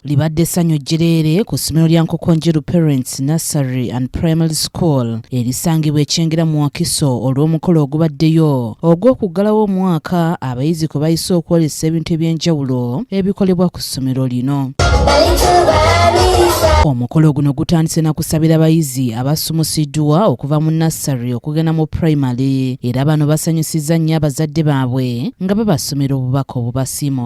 libadde essanyu jjereere ku ssomero lya nkokonjeru parents nursery and primary school erisangibwa ekyengera mu wakiso olw'omukolo ogubaddeyo ogw'okuggalawo omwaka abayizi kwe bayise okwolesa ebintu eby'enjawulo ebikolebwa ku ssomero lino omukolo guno gutandise na kusabira bayizi abasumusiddwa okuva mu nassary okugenda mu primary era bano basanyusizza nnyo abazadde baabwe nga babasomera obubaka obubasiima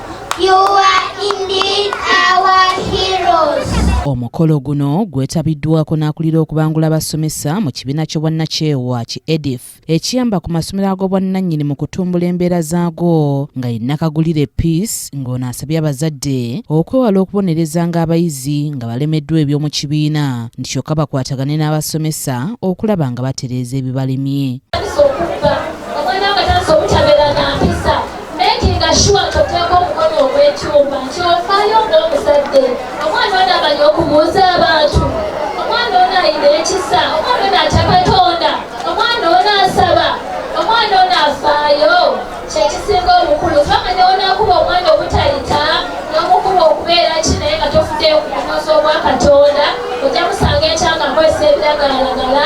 You are indeed our heroes. Omukolo guno gwetabiddwako n'akulira okubangula abasomesa mu kibiina ky'obwannakyewa ki edif ekiyamba ku masomero ag'obwannannyini mu kutumbula embeera zaago nga ye Nakagulire Peace ng'ono asabye abazadde okwewala okubonereza ng'abayizi nga balemeddwa eby'omu kibiina nti kyokka bakwatagane n'abasomesa okulaba nga batereeza ebibalemye. making sure toteeka omukono ogw'ekyuma nti ofaayo ng'omuzadde omwana ono amanyi okubuuza abantu omwana ono ayina ekisa omwana ono atya katonda omwana ono asaba omwana ono afaayo kyekisinga obukulu fama newonakuba omwana obutayita nomukuba okubeera ki naye nga tofuddeyo ku bunozi obwa katonda ojja musanga ekyanga nkozesa ebiragalalagala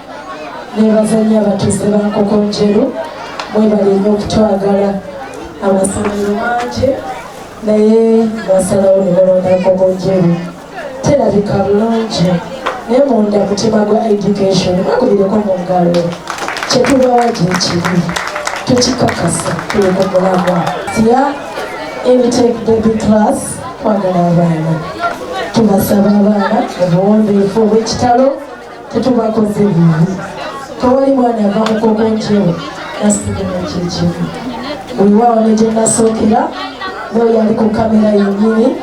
nebaza nnyo abatuuze ba nkokonjeru mwebali nnyo okutwagala amasomero mangi naye basalawo ne balonda nkokonjeru terabika bulungi naye munda mutima gwa education bakubireko mu ngalo kyetubawa gyekibi tukikakasa tuli ku mulamwa siya emitake baby class kwagala abaana tubasaba abaana obuwombeefu obw'ekitalo tetubakoze bibi tewali mwana ava mukoko njewo nasigala kyekimu wewaawo ne gye nasookera noyo ali ku kamera yenyini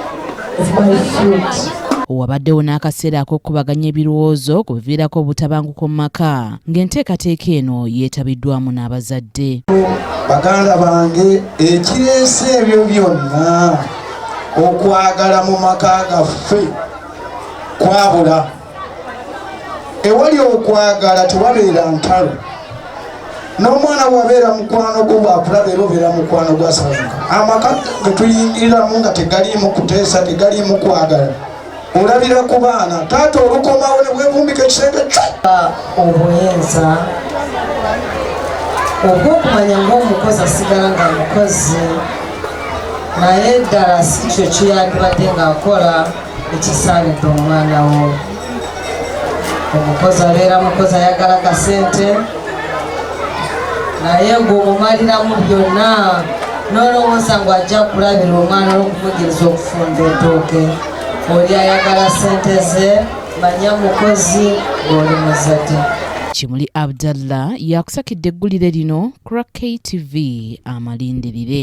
is my fruit wabaddewo n'akaseera ak'okukubaganya ebirowoozo ku biviirako obutabanguko mu maka ng'enteekateeka eno yeetabiddwamu n'abazadde baganda bange ekireese ebyo byonna okwagala mu maka gaffe kwabula ewali okwagala tewabeera ntalo n'omwana wabeera mukwano gwo bwakulaba era obeera mukwano gwasabuka amaka getuyingiriramu nga tegaliimu kuteesa tegaliimu kwagala olabira ku baana taata olukomawo ne bwevumbika ekisenge obuyinza obwokumanya ngaomukozi asigala nga mukozi naye ddala si kyo kiyandibadde ng'akola ekisaanidde omwana wo omukozi abeera mukozi ayagala kasente naye ng'omumaliramu byonna n'olowooza ngu ajja kulabira omwana olw'okumugiriza okufumba etooke oli ayagala sente ze manya mukozi ng'oli muzadde kimuli abdallah yakusakidde eggulire lino kura ktv amalindirire